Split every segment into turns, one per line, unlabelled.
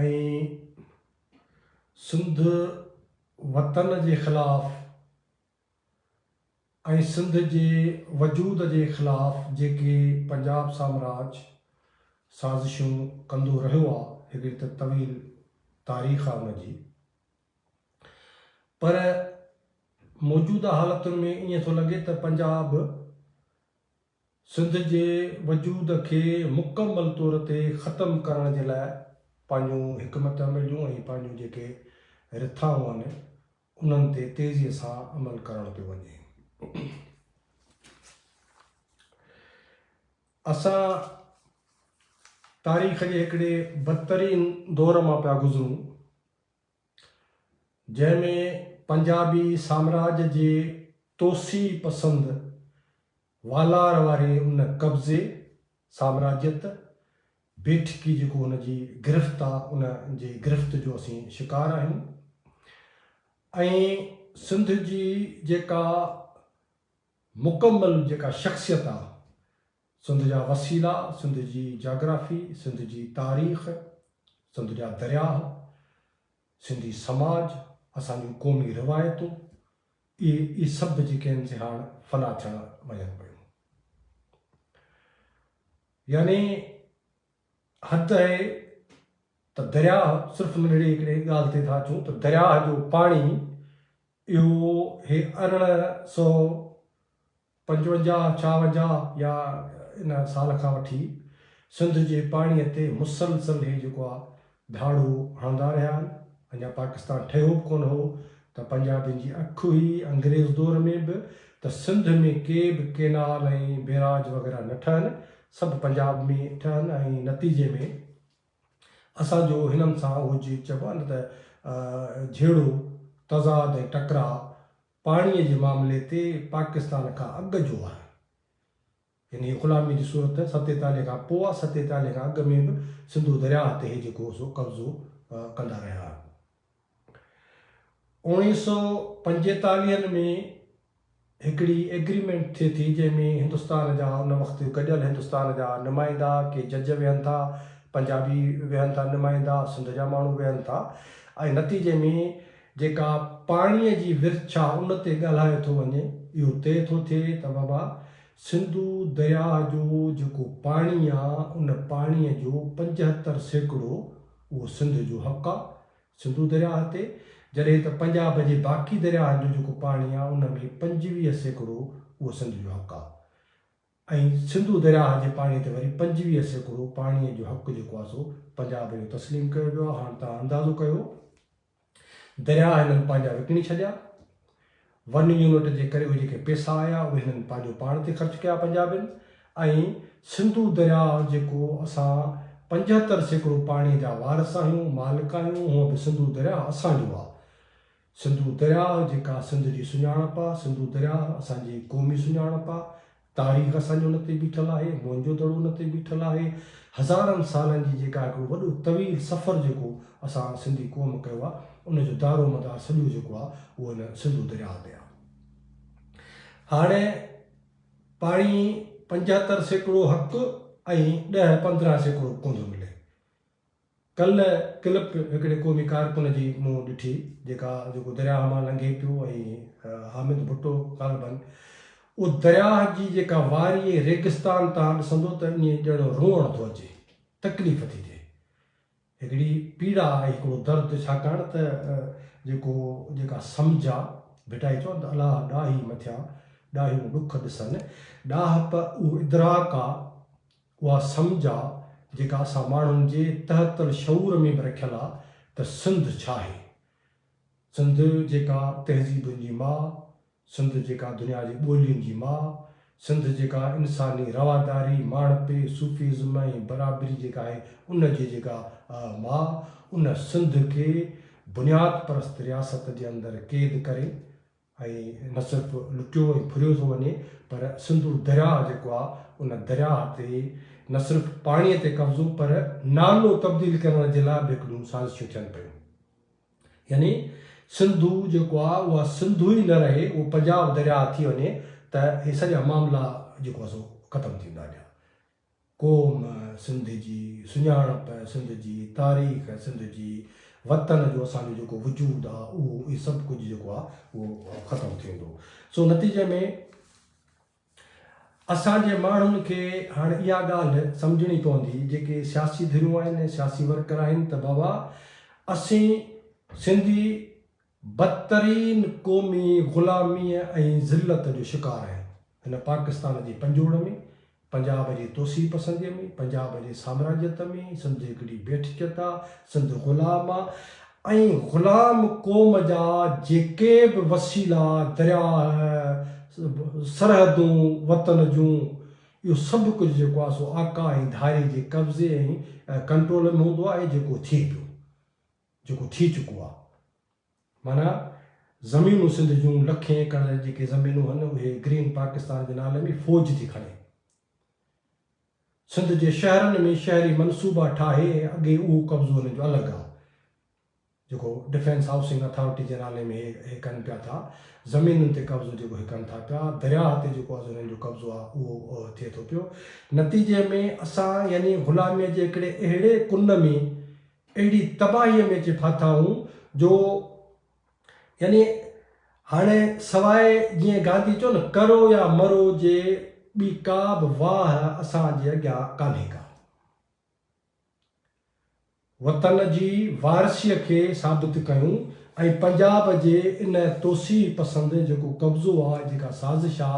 ۽ سنڌ وطن جي خلاف ۽ سنڌ جي وجود جي خلاف جيڪي پنجاب سامراج سازشون ڪندو رهيو آ هڪڙي ته طويل تاريخ آ ان جي پر موجوده حالتن ۾ ائين ٿو لڳي ته پنجاب سنڌ جي وجود کي مڪمل طور تي ختم ڪرڻ جي لاء پنهنجون حڪمت عمليون ۽ پنهنجون جيڪي رٿائون آهن انهن تي تيزي سان عمل ڪرڻ پيو وڃي. اسان تاريخ جي هڪڙي بدترين دور مان پيا گذرون. جنهن ۾ پنجابي سامراج جي توسيع پسند والار واري ان قبضي، سامراجيت، بيٺڪي جيڪو هن جي گرفت آ ان جي گرفت جو اسين شڪار آهيون ۽ سنڌ جي جيڪا مڪمل جيڪا شخصيت آ سنڌ جا وسيلا، سنڌ جي جاگرافي، سنڌ جي تاريخ، سنڌ جا درياهه، سنڌي سماج، اسان جون قومي روايتون، اهي اهي سڀ جيڪي آهن سي هاڻ فنا ٿيڻ وڃن پيون. يعني حد اهي ته درياهه صرف ننڍڙي هڪڙي ڳالهه تي ٿا اچون ته درياهه جو پاڻي اهو هي ارڙهن سو پنجونجاهه، ڇاونجاهه يا ان سال کان وٺي سنڌ جي پاڻيء تي مسلسل هي جيڪو آ ڌاڙو هڻندا رهيا آهن. اڃا پاڪستان ٺهيو به ڪونه هو ته پنجابين جي اک هئي، انگريز دور ۾ به ته سنڌ ۾ ڪي به ڪينال ۽ بيراج وغيره نه ٺهن، سڀ پنجاب ۾ ٺهن ۽ نتيجي ۾ اسان جو هنن سان اهو جي چئبو آهي نه ته جهيڙو، تضاد ۽ ٽڪراء پاڻيء جي معاملي تي پاڪستان کان اڳ جو آهي. انهيء غلاميء جي صورت ۾ ستيتاليهه کان پوء آهي. ستيتاليهه کان اڳ ۾ به سنڌو درياهه تي هي جيڪو هو سو قبضو ڪندا رهيا آهن. اوڻيهه سؤ پنجيتاليهن ۾ هڪڙي ايگريمينٽ ٿئي ٿي جنهن ۾ هندستان جا ان وقت جو گڏيل هندستان جا نمائندا، ڪي جج ويهن ٿا، پنجابي ويهن ٿا نمائندا، سنڌ جا ماڻهو ويهن ٿا ۽ نتيجي ۾ جيڪا پاڻيء جي ورڇ ڇا ان تي ڳالهايو ٿو وڃي، اهو طئي ٿو ٿئي ته بابا سنڌو درياهه جو جيڪو پاڻي آ، ان پاڻيء جو پنجهتر سيڪڙو اهو سنڌ جو حق آ، سنڌو درياهه تي، جڏهن ته پنجاب جي باقي درياهن جو جيڪو پاڻي آ، ان ۾ پنجويهه سيڪڙو اهو سنڌ جو حق آ. ۽ سنڌو درياهه جي پاڻي تي وري پنجويهه سيڪڙو پاڻي جو حق جيڪو آهي سو پنجاب اهو تسليم ڪيو ويو آهي هاڻ توهان اندازو ڪيو درياهه هنن پنهنجا وڪڻي ڇڏيا ون يونٽ جي ڪري اهي جيڪي پيسا آيا اهي هنن پنهنجو پاڻ تي خرچ ڪيا پنجابين ۽ سنڌو درياهه جيڪو اسان پنجهتر سيڪڙو پاڻي جا وارث آهيون مالڪ آهيون هونء به سنڌو درياهه اسان جو آهي سنڌو درياهه جيڪا سنڌ جي سڃاڻپ آ، سنڌو درياهه اسان جي قومي سڃاڻپ آ، تاريخ اسان جي ان تي بيٺل آهي، موهنجو دڙو ان تي بيٺل آهي، هزارن سالن جي جيڪا هڪڙو وڏو طويل سفر جيڪو اسان سنڌي قوم ڪيو آ، ان جو دارو مدار سڄو جيڪو آ اهو ان سنڌو درياهه تي آ. هاڻي پاڻي پنجهتر سيڪڙو حق ۽ ڏهه پندرهن سيڪڙو ڪونڌو ملي. ڪلهه ڪلپٽ هڪڙي قومي ڪارڪن جي منهن ڏٺي جيڪا جيڪو درياهه مان لنگهي پيو ۽ حامد ڀٽو غالبن اهو درياهه جي جيڪا واري ۽ ريگستان تان ڏسندو ته ائين ڄڻ روئڻ ٿو اچي تڪليف ٿي ٿئي هڪڙي پيڙا ۽ هڪڙو درد ڇاڪاڻ ته جيڪو جيڪا سمجهه آ ڀٽائي چون ته الاهه ڏاهي مٿيان ڏاهيون ڏک ڏسن ڏاهپ اهو ادراڪ آ اها سمجهه آ جيڪا اسان ماڻهن جي تحت الشعور ۾ به رکيل آ ته سنڌ ڇا آهي. سنڌ جيڪا تهذيبن جي ماء، سنڌ جيڪا دنيا جي ٻولين جي ماء، سنڌ جيڪا انساني رواداري، ماڻهپي، صوفيزم ۽ برابري جيڪا آهي ان جي جيڪا آ ماء، ان سنڌ کي بنياد پرست رياست جي اندر قيد ڪري ۽ نه صرف لٽيو ۽ ڦريو ٿو وڃي پر سنڌو درياهه جيڪو آهي ان درياهه تي نه صرف پاڻي تي قبضو پر نالو تبديل ڪرڻ جي لاء به هڪ ٻيون سازشون ٿين پيون يعني سنڌو جيڪو آهي اها سنڌو ئي نه رهي اهو پنجاب درياهه ٿي وڃي ته هي سڄا معاملا جيڪو آهي سو ختم ٿيندا اڳيان قوم سنڌ جي، سڃاڻپ سنڌ جي، تاريخ سنڌ جي، وطن جو اسان جو جيڪو وجود آ اهو اهي سڀ ڪجهه جيڪو آ اهو ختم ٿي ويندو. سو نتيجي ۾ اسان جي ماڻهن کي هاڻ اها ڳالهه سمجهڻي پوندي جيڪي سياسي ڌريون آهن، سياسي ورڪر آهن ته بابا اسين سنڌي بدترين قومي غلاميء ۽ ذلت جو شڪار آهن. هن پاڪستان جي پنجوڙ ۾، پنجاب جي توسيع پسنديء ۾، پنجاب جي سامراجيت ۾، سنڌ هڪڙي بيٺ چت آ، سنڌ غلام آ ۽ غلام قوم جا جيڪي به وسيلا، درياء، سرحدون، وطن جون، اهو سڀ ڪجهه جيڪو آ سو آقا ۽ ڌاري جي قبضي ۽ ڪنٽرول ۾ هوندو آ ۽ جيڪو ٿئي پيو. جيڪو ٿي چڪو آ معنيٰ زمينون سنڌ جون لکين ايڪڙ جيڪي زمينون ھن اھي گرين پاڪستان جي نالي ۾ فوج ٿي کڻي سنڌ جي شھرن ۾ شھري منصوبا ٺاھي ۽ اڳي اھو قبضو ھنن جو الڳ آ جيڪو ڊفينس ھائوسنگ اٿارٽي جي نالي ۾ اھي ڪن پيا ٿا زمينن تي قبضو جيڪو اھي ڪن ٿا پيا درياھ تي جيڪو از ھنن جو قبضو آ اھو ٿئي ٿو پيو نتيجي ۾ اسان يعني غلامي جي ھڪڙي اھڙي ڪن ۾ اهڙي تباهيء ۾ اچي ڦاٿائون جو يعني هاڻي سواء جيئن گانڌي چيو نه ڪرو يا مرو جي ٻي ڪا به واهه اسان جي اڳيان ڪانهي ڪا. وطن جي وارثيء کي ثابت ڪيون ۽ پنجاب جي ان توسيع پسند جيڪو قبضو آ، جيڪا سازش آ،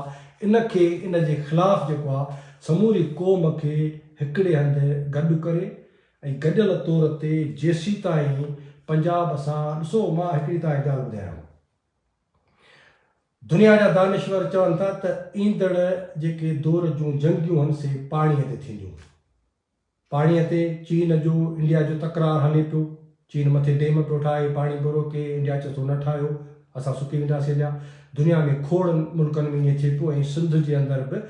ان کي ان جي خلاف جيڪو آ سموري قوم کي هڪڙي هنڌ گڏ ڪري ۽ گڏيل طور تي جيسيتائين پنجاب اسان ڏسو مان هڪڙي تهان کي ڳالهه ٻڌايان دنيا جا دانشور چون ٿا ته ايندڙ جيڪي دور جون جنگيون هن سي پاڻي تي ٿينديون پاڻي تي چين جو انڊيا جو تڪرار هلي پيو چين مٿي ڊيم پيو ٺاهي پاڻي پيو روڪي انڊيا چي ٿو نه ٺاهيو اسان سڪي وينداسي هليا دنيا ۾ کوڙ ملڪن ۾ ائين ٿي پيو ۽ سنڌ جي اندر به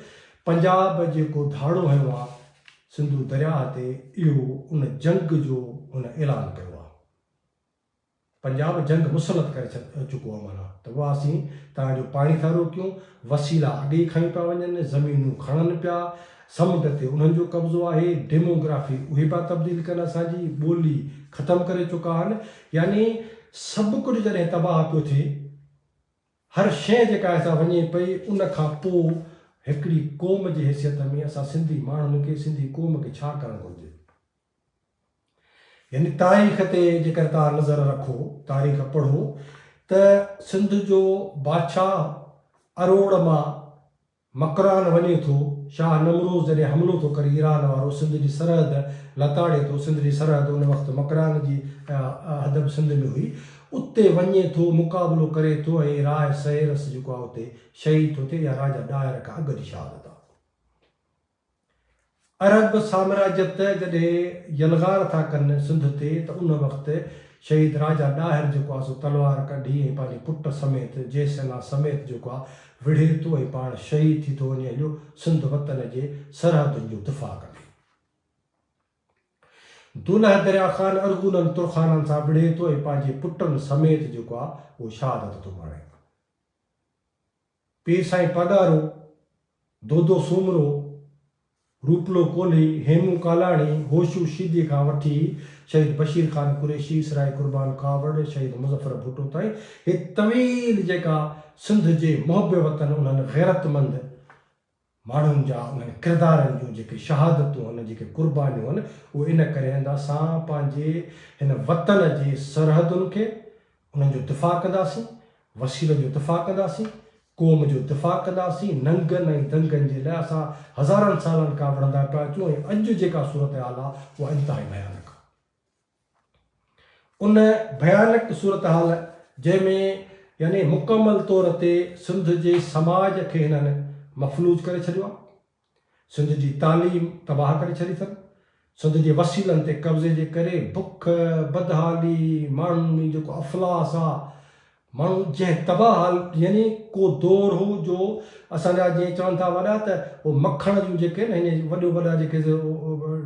پنجاب جيڪو ڌاڙو هنيو آ سنڌو درياهه تي اهو ان جنگ جو هن اعلان ڪيو آ. پنجاب جنگ مسلط ڪري چڪو آ معنيٰ ته اها اسين توهان جو پاڻي ٿا روڪيون، وسيلا اڳي ئي کنيو پيا وڃن، زمينون کڻن پيا، سمنڊ تي انهن جو قبضو آهي، ڊيموگرافي اهي پيا تبديل ڪن اسان جي، ٻولي ختم ڪري چڪا آهن يعني سڀ ڪجهه جڏهن تباهه پيو ٿئي، هر شيء جيڪا اسان وڃي پئي ان کان پوء هڪڙي قوم جي حيثيت ۾ اسان سنڌي ماڻهن کي سنڌي قوم کي ڇا ڪرڻ گهرجي؟ يعني تاريخ تي جيڪر توهان نظر رکو تاريخ پڙهو ته سنڌ جو بادشاهه اروڙ مان مڪران وڃي ٿو، شاهه نمروز جڏهن حملو ٿو ڪري ايران وارو سنڌ جي سرحد لتاڙي ٿو، سنڌ جي سرحد ان وقت مڪران جي حد به سنڌ ۾ هئي، اتي وڃي ٿو مقابلو ڪري ٿو ۽ راء سهيرس جيڪو آهي اتي شهيد ٿو ٿئي، اها راجا ڏاهر کان اڳ جي شهادت آهي. عرب سامراجيت جڏهن يلغار ٿا ڪن سنڌ تي ته ان وقت شهيد راجا ڏاهر جيڪو آهي سو تلوار ڪڍي ۽ پنهنجي پٽ سميت جي سينا سميت جيڪو آهي وڙهي ٿو ۽ پاڻ شهيد ٿي ٿو وڃي هليو سنڌ وطن جي سرحدن جو دفاع ڪندي. دولهه دريا خان ارغونن ترخانن سان وڙهي ٿو ۽ پنهنجي پٽن سميت جيڪو آهي اهو شهادت ٿو ماڻي. پير سائين پاڳارو، دودو سومرو، روپلو ڪولهي، هيمون ڪالاڻي، هوشو شيدي کان وٺي شهيد بشير خان قريشي، اسرائي قربان ڪاوڙ، شهيد مظفر ڀٽو تائين هي طويل جيڪا سنڌ جي محب وطن انهن غيرتمند ماڻهن جا انهن ڪردارن جون جيڪي شهادتون هن، جيڪي قربانيون هن، اهي ان ڪري هن ته اسان پنهنجي هن وطن جي سرحدن کي انهن جو دفاع ڪنداسين، وسيلن جو دفاع ڪنداسين، قوم جو دفاع ڪنداسين، ننگن ۽ دنگن جي لاء اسان هزارن سالن کان وڙهندا پيا اچون ۽ اڄ جيڪا صورتحال آ اها انتهائي ڀيانڪ آ. ان ڀيانڪ صورتحال جنهن ۾ يعني مڪمل طور تي سنڌ جي سماج کي هنن مفلوج ڪري ڇڏيو آهي، سنڌ جي تعليم تباهه ڪري ڇڏي اٿن، سنڌ جي وسيلن تي قبضي جي ڪري بک، بدحالي، ماڻهن ۾ جيڪو افلاس آهي ماڻهو جنهن تباهه حال يعني ڪو دور هو جو اسان جا جيئن چون ٿا وڏا ته هو مکڻ جون جيڪي نه هينئن وڏيو وڏا جيڪي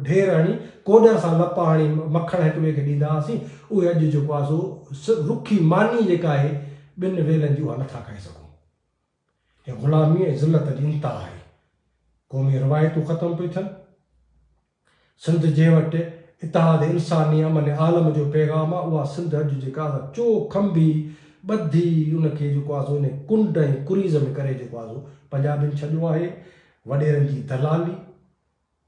ڍير هڻي ڪوڏر سان لپا هڻي مکڻ هڪ ٻئي کي ڏيندا هئاسين اهي اڄ جيڪو آهي سو رکي ماني جيڪا آهي ٻن ويلن جي اها نٿا کائي سگهون هي غلامي ۽ ذلت جي انتها آهي قومي روايتون ختم پيون ٿين. سنڌ جنهن وٽ اتحاد انساني امن عالم جو پيغام آ اها سنڌ اڄ جيڪا اسان چو کنڀي ٻڌي ان کي جيڪو آسو انهي ڪنڊ ۽ ڪريز ۾ ڪري جيڪو آسو پنجابين ڇڏيو آهي وڏيرن جي دلالي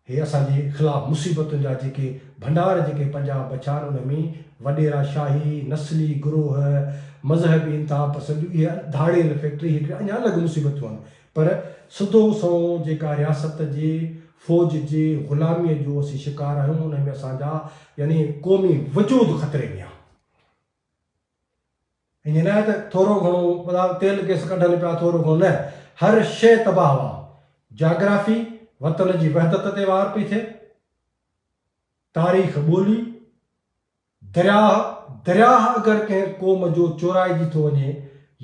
هي اسان جي خلاف مصيبتن جا جيڪي ڀنڊار جيڪي پنجاب بڇا آهن ان ۾ وڏيرا شاهي نسلي گروهه مذهبي انتها پسنديون اهي ڌاڙيل فيڪٽري هڪڙي اڃا الڳ مصيبتون آهن پر سڌو سنئون جيڪا رياست جي فوج جي غلاميء جو اسين شڪار آهيون انهي ۾ اسان جا يعني قومي وجود خطري ۾ آهي. انهي لاء ته ٿورو گهڻو ٻڌايو تيل گئس ڪڍن پيا ٿورو گهڻو نه هر شيء تباهه واه جاگرافي وطن جي وحدت تي وار پئي ٿئي تاريخ ٻولي، درياهه، درياهه اگر ڪنهن قوم جو چورائجي ٿو وڃي،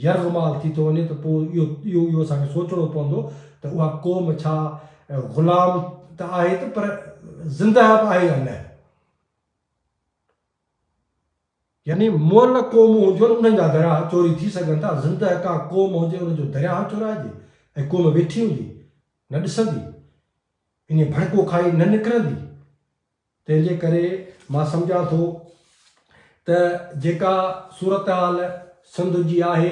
يرغمال ٿي ٿو وڃي ته پوء اهو اهو اهو اسان کي سوچڻو پوندو ته اها قوم ڇا غلام ته آهي ته پر زندهه به آهي يا نه؟ يعني مئل قومون هجن انهن جا درياهه چوري ٿي سگهن ٿا، زندهه ڪا قوم هجي ان جو درياهه چورائجي ۽ قوم ويٺي هجي نه ڏسندي، انهيء ڀڙڪو کائي نه نڪرندي. تنهن جي ڪري مان سمجهان ٿو ته جيڪا صورتحال سنڌ جي آهي،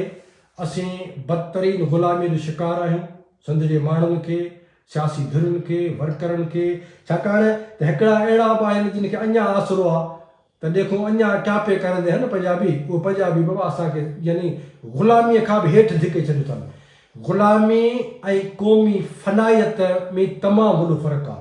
اسين بدترين غلاميء جو شڪار آهيون، سنڌ جي ماڻهن کي، سياسي ڌرين کي، ورڪرن کي، ڇاڪاڻ ته هڪڙا اهڙا به آهن جن کي اڃا آسرو آ ته ڏيکون اڃا ٽاپي ڪرندي هن پنجابي، اهي پنجابي به اسان کي يعني غلاميء کان به هيٺ ڌڪي ڇڏيو اٿن. غلامي ۽ قومي فنائيت ۾ تمام وڏو فرق آ.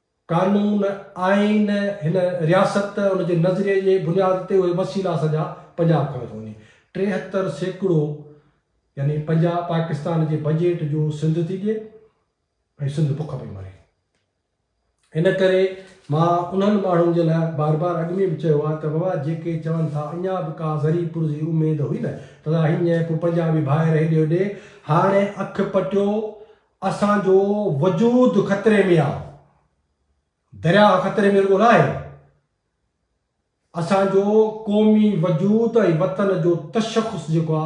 قانون، آئين، هن رياست، ان جي نظريي جي بنياد تي اهي وسيلا سڄا پنجاب کڻي ٿو وڃي. ٽيهتر سيڪڙو يعني پنجاب پاڪستان جي بجيٽ جو سنڌ ٿي ڏئي ۽ سنڌ بک پئي مري. ان ڪري مان انهن ماڻهن جي لاء بار بار اڳ ۾ به چيو آهي ته بابا جيڪي چون ٿا اڃا به ڪا ذري پور جي اميد هئي نه ته هينئن پوء پنجابي ڀائر هيڏي هوڏي هاڻي اک پٽيو اسان جو وجود خطري ۾ آ. درياهه خطري ۾ رڳو ناهي. اسان جو قومي وجود ۽ وطن جو تشخص جيڪو آ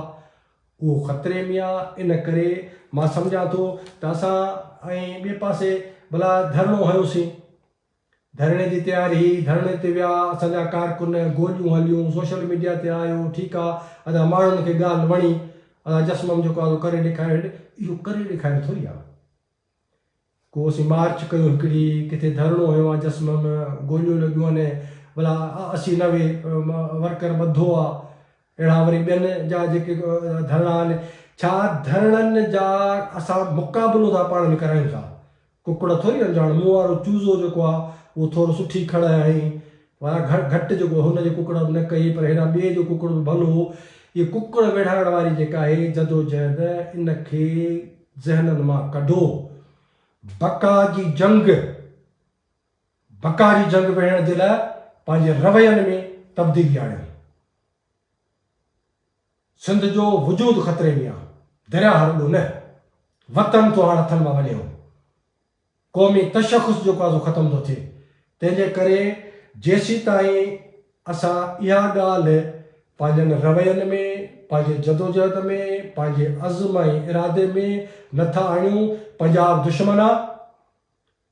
اهو خطري ۾ آ. ان ڪري مان سمجهان ٿو ته اسان ۽ ٻئي پاسي ڀلا ڌرڻو هنيوسين ڌرڻي جي تياري، ڌرڻي تي ويا اسان جا ڪارڪن، گوليون هليون، سوشل ميڊيا تي آيو، ٺيڪ آ ادا ماڻهن کي ڳالهه وڻي، ادا جسمم جيڪو آ سو ڪري ڏيکاريو، اهو ڪري ڏيکاريو ٿوري آ، ڪو اسين مارچ ڪيو هڪڙي، ڪٿي ڌرڻو هنيو آ جسمم، گوليون لڳيون آهن، ڀلا اسي نوي ورڪر ٻڌو آ، اهڙا وري ٻين جا جيڪي ڌرڻا آهن، ڇا ڌرڻن جا اسان مقابلو ٿا پاڻ ۾ ڪرايون ڇا؟ ڪڪڙ ٿوري هڻجان، هاڻ مون وارو چوزو جيڪو آهي اهو ٿورو سٺي کڙ هڻي ويا گهٽ گهٽ جيڪو هن جي ڪڪڙ به نه ڪئي پر هيڏانهن ٻئي جو ڪڪڙ به ڀلو هو. هيء ڪڪڙ ويڙهائڻ واري جيڪا آهي جدوجهد ان کي ذهنن مان ڪڍو. بقا جي جنگ! بکاري جنگ وڙهڻ جي لاء پنهنجي روين ۾ تبديلي آڻي. سنڌ جو وجود خطري ۾ آ. درياء هر ڏو نه. وطن ٿو هاڻ هٿن مان وڃي هو. قومي تشخص جو قاضو ختم ٿو ٿئي. تنهن جي ڪري جيسيتائين اسان اها ڳالهه پنهنجن روين ۾، پنهنجي جدوجهد ۾، پنهنجي عزم ۽ ارادي ۾ نه ٿا آڻيون، پنجاب دشمن آ،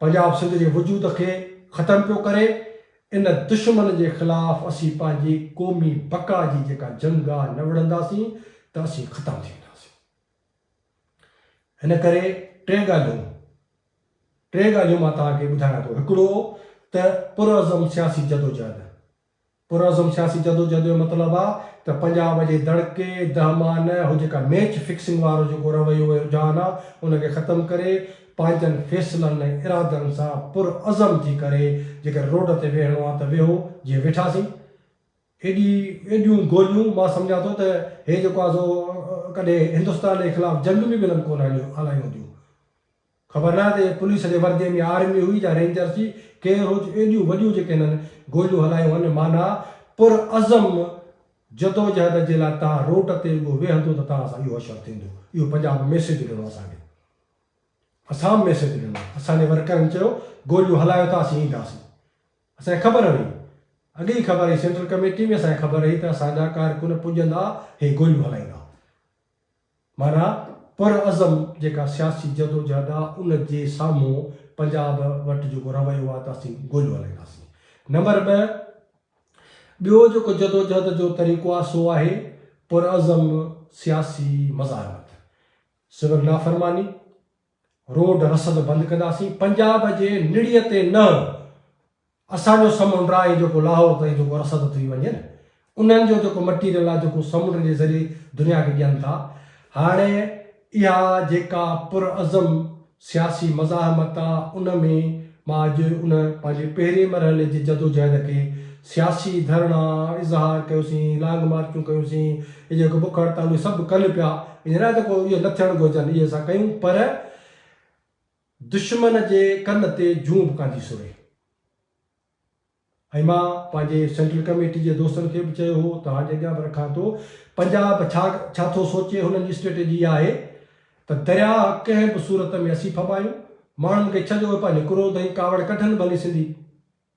پنجاب سنڌ جي وجود کي ختم پيو ڪري، ان دشمن جي خلاف اسين پنهنجي قومي بقا جي جيڪا جنگ آ نه وڙهنداسين ته اسين ختم ٿي وينداسين. ان ڪري ٽي ڳالهيون ٽي ڳالهيون مان توهان کي ٻڌايان ٿو هڪڙو ته پرعزم سياسي جدوجهد پرعزم سياسي جدوجهد جو مطلب آ ته پنجاب جي دڙڪي، دهمان، هو جيڪا ميچ فڪسنگ وارو جيڪو رويو ۽ رجحان آ ان کي ختم ڪري پنهنجن فيصلن ۽ ارادن سان پرعزم ٿي ڪري جيڪر روڊ تي ويهڻو آ ته ويهو جيئن ويٺاسين ايڏي ايڏيون گوليون مان سمجهان ٿو ته هي جيڪو آ سو ڪڏهن هندستان جي خلاف جنگ ۾ به انهن ڪونه هلايون هونديون. خبر ناهي ته اهي پوليس جي ورديء ۾ آرمي هئي يا رينجرس ئي ڪير هو جو ايڏيون وڏيون جيڪي هنن گوليون هلايون هن معنيٰ پر عزم جدوجهد جي لاء تان روٽ تي اڳو ويهندو ته تان سان اهو حشر ٿيندو اهو پنجاب ميسيج ڏنو اسان کي اسام ميسيج ڏنو اسان جي ورڪرن چيو گوليون هلايو ته اسين اينداسين اسان کي خبر هئي اڳي ئي خبر هئي سينٽرل ڪميٽي ۾ اسان کي خبر هئي ته اسان جا ڪارڪن پڄندا هي گوليون هلائيندا. معنيٰ پرعزم جيڪا سياسي جدوجهد آ ان جي سامهون پنجاب وٽ جيڪو رويو آ ته اسين گوليون هلائينداسين. نمبر ٻه ٻيو جيڪو جدوجهد جو طريقو آ سو آهي پرعزم سياسي مزاحمت، سول نافرماني، روڊ رسد بند ڪنداسين، پنجاب جي نڙيء تي نه اسان جو سمنڊ آهي جيڪو لاهور تائين جيڪو رسد ٿي وڃي نه انهن جو جيڪو مٽيريل آهي جيڪو سمنڊ جي ذريعي دنيا کي ڏين ٿا هاڻي اها جيڪا پر عزم سياسي مزاحمت آهي ان ۾ مان اڄ ان پنهنجي پهرين مرحلي جي جدوجهد کي سياسي ڌرڻا اظهار ڪيوسين لانگ مارچون ڪيوسين هي جيڪو بک هڙتالون سڀ ڪن پيا هينئر ته ڪو اهي نه ٿيڻ گهرجن اهي اسان ڪيون پر دشمن جي ڪن تي جون به ڪانڌي سري ۽ مان پنهنجي سينٽرل ڪميٽي جي دوستن کي به چيو هو ته هاڻ اڳيان به رکان ٿو پنجاب ڇا ڇا ٿو سوچي هنن جي اسٽريٽجي اها آهي ته درياهه ڪنهن به صورت ۾ اسين ڦٻايون ماڻهن کي ڇڏ اهي پنهنجي ڪروڌ ۽ ڪاوڙ ڪڍن ڀلي سنڌي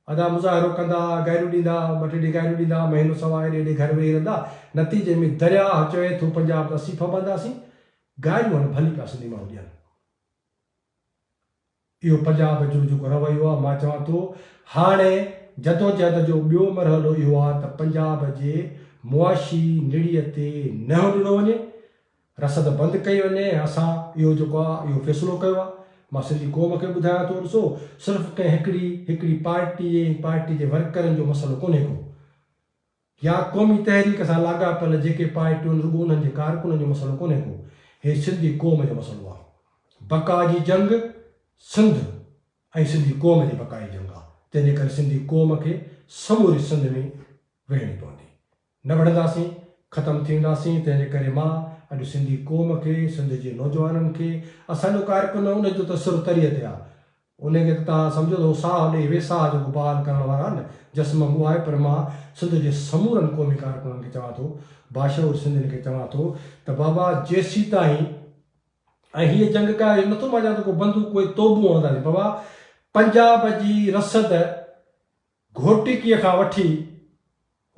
ادا مظاهرو ڪندا گائريون ڏيندا ٻه ٽي ڏينهن گائريون ڏيندا مهينو سوا ايڏي ايڏي گهر ويهي رهندا نتيجي ۾ درياهه چوي ٿو پنجاب ته اسين ڦٻنداسين گائريون هن ڀلي پيا سنڌي ماڻهو ڏين اهو پنجاب جو جيڪو رويو آهي مان چوان ٿو هاڻي جدوجهد جو ٻيو مرحلو اهو آهي ته پنجاب جي معاشي نڙيء تي نهيو ڏنو وڃي، رسد بند ڪئي وڃي ۽ اسان اهو جيڪو آهي اهو فيصلو ڪيو آهي. مان سنڌي قوم کي ٻڌايان ٿو ڏسو صرف ڪنهن هڪڙي هڪڙي پارٽي ۽ پارٽي جي ورڪرن جو مسئلو ڪونهي ڪو. يا قومي تحريڪ سان لاڳاپيل جيڪي پارٽيون رڳو انهن جي ڪارڪنن جو مسئلو ڪونهي ڪو، هي سنڌي قوم جو مسئلو آ. بقا جي جنگ سنڌ ۽ سنڌي قوم جي بقا جي جنگ آ، تنهن جي ڪري سنڌي قوم کي سموري سنڌ ۾ ويهڻي پوندي. نه وڙهنداسين، ختم ٿي وينداسين، تنهن جي ڪري مان اڄ سنڌي قوم کي، سنڌ جي نوجوانن کي، اسان جو ڪارڪن ان جو ته سر تريء تي آ، انهيء کي ته توهان سمجهو ٿو ساهه ڏئي ويساهه جو وپار ڪرڻ وارا نه جسم مون آهي پر مان سنڌ جي سمورن قومي ڪارڪنن کي چوان ٿو باشعور سنڌين کي چوان ٿو ته بابا جيسيتائين ۽ هيء جنگ ڪا اهو نٿو مڃان ته ڪو بندوق ڪوئي توبون هڻنداسين بابا پنجاب جي رسد گهوٽڪيء کان وٺي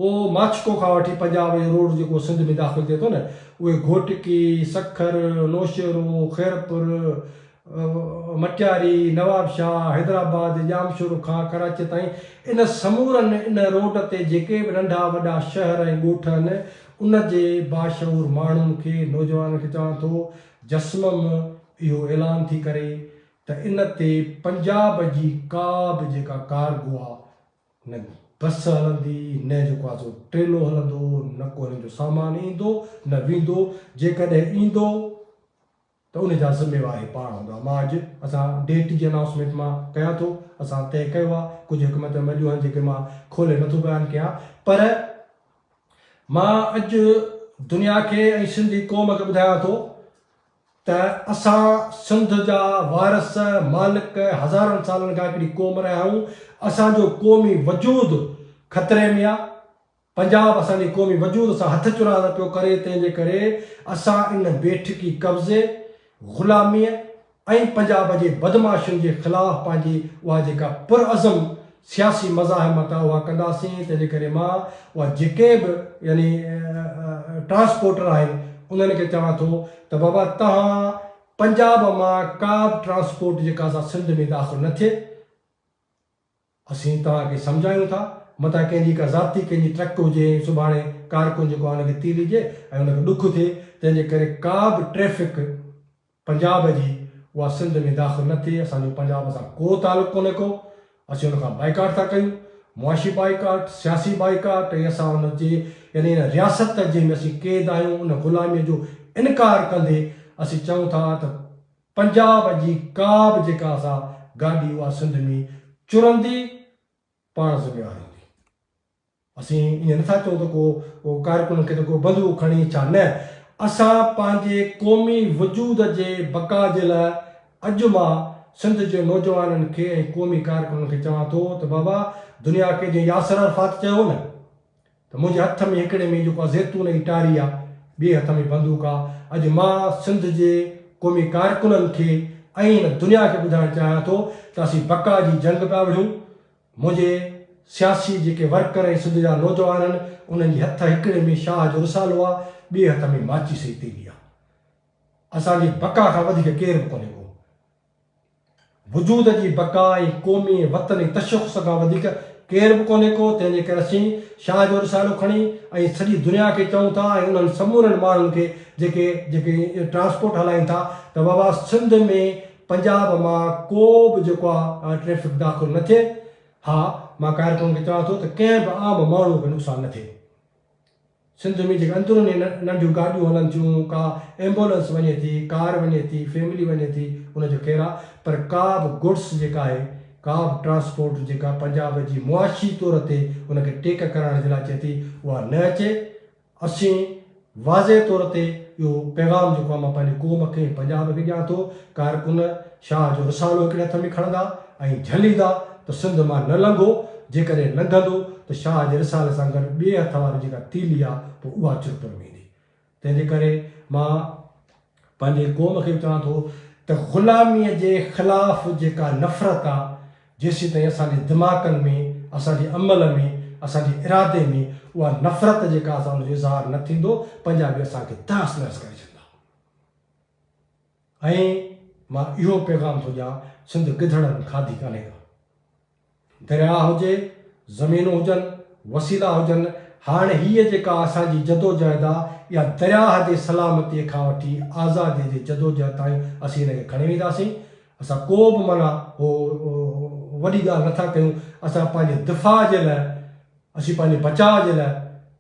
او ماڇڪو کان وٺي پنجاب جو روڊ جيڪو سنڌ ۾ داخل ٿئي ٿو نه اهي گهوٽڪي، سکر، نوشهرو، خيرپور، مٽياري، نوابشاهه، حيدرآباد، ڄامشورو کان ڪراچيء تائين ان سمورن ان روڊ تي جيڪي به ننڍا وڏا شهر ۽ ڳوٺ آهن ان جي باشعور ماڻهن کي نوجوانن کي چوان ٿو جسمم اهو اعلان ٿي ڪري ته ان تي پنجاب جي ڪا به جيڪا ڪارگو آ نه بس هلندي نه جيڪو آسو ٽريلو هلندو نه ڪو هنن جو سامان ايندو نه ويندو جيڪڏهن ايندو ته ان جا ذميوار هي پاڻ هوندا مان اڄ اسان ڊيٽ جي انائونسمينٽ مان ڪيان ٿو اسان طئي ڪيو آ ڪجهه حڪمت عمليون آهن جيڪي مان کولي نٿو بيان ڪيان پر مان اڄ دنيا کي ۽ سنڌي قوم کي ٻڌايان ٿو ته اسان سنڌ جا وارث، مالڪ، هزارن سالن کان هڪڙي قوم رهيا آهيون، اسان جو قومي وجود خطري ۾ آهي، پنجاب اسان جي قومي وجود سان هٿ چراند پيو ڪري، تنهن جي ڪري اسان ان بيٺڪي قبضي، غلاميء ۽ پنجاب جي بدمعاشين جي خلاف پنهنجي اها جيڪا پرعزم سياسي مزاحمت اها ڪنداسين تنهن جي ڪري مان اها جيڪي به يعني ٽرانسپورٽر آهن انهن کي چوان ٿو ته بابا توهان پنجاب مان ڪا به ٽرانسپورٽ جيڪا سا سنڌ ۾ داخل نه ٿئي اسين توهان کي سمجهايون ٿا متان ڪنهن جي ڪا ذاتي ڪنهن جي ٽرڪ هجي ۽ سڀاڻي ڪارڪن جيڪو آهي ان کي تيلي ڏي ۽ ان کي ڏک ٿئي تنهن جي ڪري ڪا به ٽريفڪ پنجاب جي اها سنڌ ۾ داخل نه ٿئي، اسان جو پنجاب سان ڪو تعلق ڪونهي ڪو، اسين ان کان بائيڪاٽ ٿا ڪيون، معاشي بائيڪاٽ، سياسي بائيڪاٽ ۽ اسان ان جي يعني ان رياست جنهن ۾ اسين قيد آهيون ان غلاميء جو انڪار ڪندي اسين چئون ٿا ته پنجاب جي ڪا به جيڪا اسان گاڏي اها سنڌ ۾ چرندي پاڻ ذميوار هوندي. اسين ائين نه ٿا چئون ته ڪو ڪارڪن کي ته ڪو بندوق کڻي ڇا نه، اسان پنهنجي قومي وجود جي بقا جي لاء اڄ مان سنڌ جي نوجوانن کي ۽ قومي ڪارڪنن کي چوان ٿو ته بابا دنيا کي جيئن ياسر عرفات چيو هو نه ته منهنجي هٿ ۾ هڪڙي ۾ جيڪو آ زيتون جي ٽاري آ، ٻئي هٿ ۾ بندوق آ، اڄ مان سنڌ جي قومي ڪارڪنن کي ۽ هن دنيا کي ٻڌائڻ چاهيان ٿو ته اسين بقا جي جنگ پيا وڙهيون، منهنجي سياسي جيڪي ورڪر ۽ سنڌ جا نوجوان آهن، انهن جي هٿ هڪڙي ۾ شاهه جو رسالو آ، ٻئي هٿ ۾ ماچيس جي تيلي آ. اسان جي بقا کان وڌيڪ ڪير به ڪونهي ڪو. وجود جي بقا ۽ قومي ۽ وطني تشخص کان وڌيڪ ڪير به ڪونهي ڪو، تنهن جي ڪري اسين شاهه جو رسالو کڻي ۽ سڄي دنيا کي چئون ٿا ۽ انهن سمورن ماڻهن کي جيڪي جيڪي ٽرانسپورٽ هلائين ٿا ته بابا سنڌ ۾ پنجاب مان ڪو به جيڪو آ ٽريفڪ داخل نه ٿئي ها مان قاهر قوم کي چوان ٿو ته ڪنهن به عام ماڻهو کي نقصان نه ٿئي سنڌ ۾ جيڪي اندروني ننڍيون گاڏيون هلن ٿيون ڪا ايمبولنس وڃي ٿي ڪار وڃي ٿي فيملي وڃي ٿي ان جو خير آ پر ڪا به گڊس جيڪا آهي ڪا به ٽرانسپورٽ جيڪا پنجاب جي معاشي طور تي ان کي ٽيڪ ڪرائڻ جي لاء اچي ٿي اها نه اچي اسين واضح طور تي اهو پيغام جيڪو آء مان پنهنجي قوم کي ۽ پنجاب کي ڏيان ٿو، ڪارڪن شاهه جو رسالو هڪڙي هٿ ۾ کڻندا ۽ جهليندا ته سنڌ مان نه لنگهو، جيڪڏهن لنگهندو ته شاهه جي رسالي سان گڏ ٻئي هٿ واري جيڪا تيلي آ پوء اها چرپر ويندي. تنهن جي ڪري مان. پنهنجي قوم کي به چوان ٿو ته غلاميء جي خلاف جيڪا نفرت آ، جيسيتائين اسان جي دماغن ۾، اسان جي عمل ۾، اسان جي ارادي ۾، اها نفرت جيڪا اسان ان جو اظهار نه ٿيندو، پنجابي اسان کي تهس نهس ڪري ڇڏندا. ۽ مان اهو پيغام ٿو ڏيان سنڌ گدڙن کاڌي ڪانهي ڪا. درياهه هجي، زمينون هجن، وسيلا هجن، هاڻ هيء جيڪا اسان جي جدوجهد آ، اها درياهه جي سلامتيء کان وٺي آزاديء جي جدوجهد تائين اسين ان کي کڻي وينداسين. اسان ڪو به معنيٰ وڏي ڳالهه نه ٿا ڪيون، اسان پنهنجي دفاع جي لاء، اسين پنهنجي بچاء جي لاء،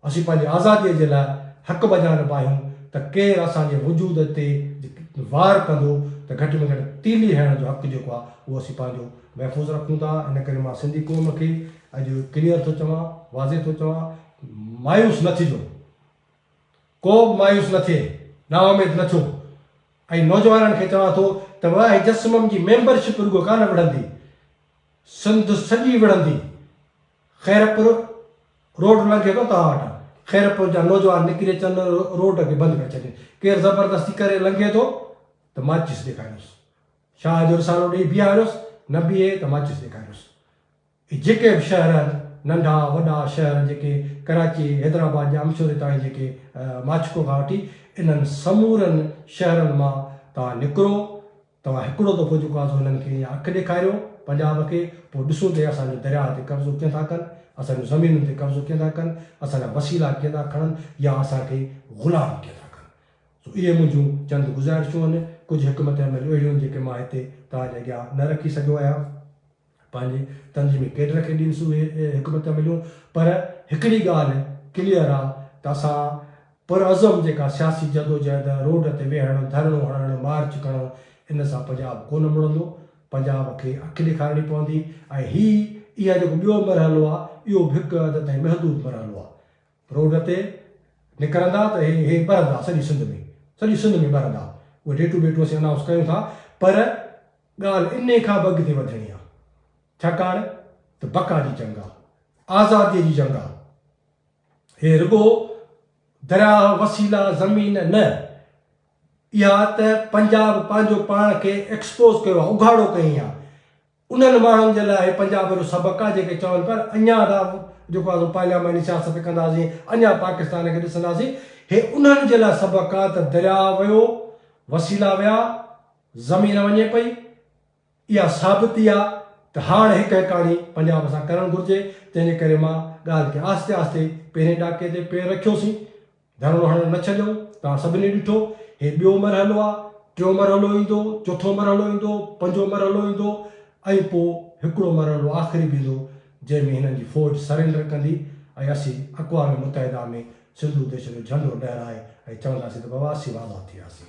اسين پنهنجي آزاديء جي لاء حق بجا نه باهيون ته ڪير اسان جي وجود تي وار ڪندو ته گهٽ ۾ گهٽ تيلي هڻڻ جو حق جيڪو آهي اهو اسين پنهنجو محفوظ رکون ٿا ان ڪري مان سنڌي قوم کي اڄ ڪليئر ٿو چوان واضح ٿو چوان مايوس نه ٿجو ڪو به مايوس نه ٿئي نااميد نه ٿيو ۽ نوجوانن کي چوان ٿو ته واهي جسمم جي ميمبرشپ رڳو ڪانه وڙهندي سنڌ سڄي وڙهندي خيرپور روڊ لنگهي ٿو توهان وٽان خيرپور جا نوجوان نڪري اچن روڊ کي بند ڪري ڇڏي ڪير زبردستي ڪري لنگهي ٿو ته ماچس ڏيکاريوس شاهه جو رسالو ڏيئي بيهاريوس نه بيهي ته ماچس ڏيکاريوس اي جيڪي به شهر آهن ننڍا وڏا شهر جيڪي ڪراچي حيدرآباد جا امشوري تائين جيڪي ماڇڪو کان وٺي انهن سمورن شهرن مان توهان نڪرو توهان هڪڙو دفعو جيڪو آزو هنن کي يا اک ڏيکاريو پنجاب کي پوء ڏسون ته هي اسان جون درياهه تي قبضو ڪيئن ٿا ڪن، اسان جون زمينن تي قبضو ڪيئن ٿا ڪن، اسان جا وسيلا ڪيئن ٿا کڻن يا اسان کي غلام ڪيئن ٿا ڪن. سو اهي منهنجون چند گذارشون هن، ڪجهه حڪمت عمل اهڙيون هن جيڪي مان هتي توهان جي اڳيان نه رکي سگهيو آهيان. پنهنجي تنظيمي ڪيڊر کي ڏينهن سوئي حڪمتيون مليون پر هڪڙي ڳالهه ڪليئر آ ته اسان پرعزم جيڪا سياسي جدوجهد، روڊ تي ويهڻ، ڌرڻو هڻڻ، مارچ ڪرڻ ان سان پنجاب ڪونه مڙندو، پنجاب کي اک ڏيکارڻي پوندي ۽ هي اها جيڪو ٻيو مرحلو آ اهو به هڪ حد تائين محدود مرحلو آ، روڊ تي نڪرندا ته هي هي ٻرندا سڄي سنڌ ۾، سڄي سنڌ ۾ ٻرندا اهي ڊيٽون ٻيٽون اسين انائونس ڪيون ٿا پر ڳالهه انهي کان به اڳتي وڌڻي آ، ڇاڪاڻ ته بقا جي جنگ آ، آزاديء جي جنگ آ. هي رڳو درياهه، وسيلا، زمين نه، اها ته پنجاب پنهنجو پاڻ کي ايڪسپوز ڪيو آ، اگهاڙو ڪيائين آ. انهن ماڻهن جي لاء هي پنجاب جو سبق آ، جيڪي چون پيا ته اڃا ته جيڪو آ سو پارلياماني سياست ڪنداسين، اڃا پاڪستان کي ڏسنداسين، هي انهن جي لاء سبق آ ته درياهه ويو، وسيلا ويا، زمين وڃي پئي، اها ثابتي آ ته هاڻ هڪ هيڪاڻي پنجاب سان ڪرڻ گهرجي، تنهن جي ڪري مان ڳالهه کي آهستي آهستي پهرين ڏاڪي تي پير رکيوسين، ڌرڻو هڻڻ نه ڇڏيائون، توهان سڀني ڏٺو، هي ٻيو مرحلو آ، ٽيون مرحلو ايندو، چوٿون مرحلو ايندو، پنجون مرحلو ايندو ۽ پو هڪڙو مرحلو آخري به ايندو، جنهن ۾ هنن جي فوج سرينڊر ڪندي ۽ اسين اقوام متحده ۾ سنڌو ديش جو جهنڊو لهرائي ۽ چونداسين ته بابا اسين آزاد ٿي وياسين،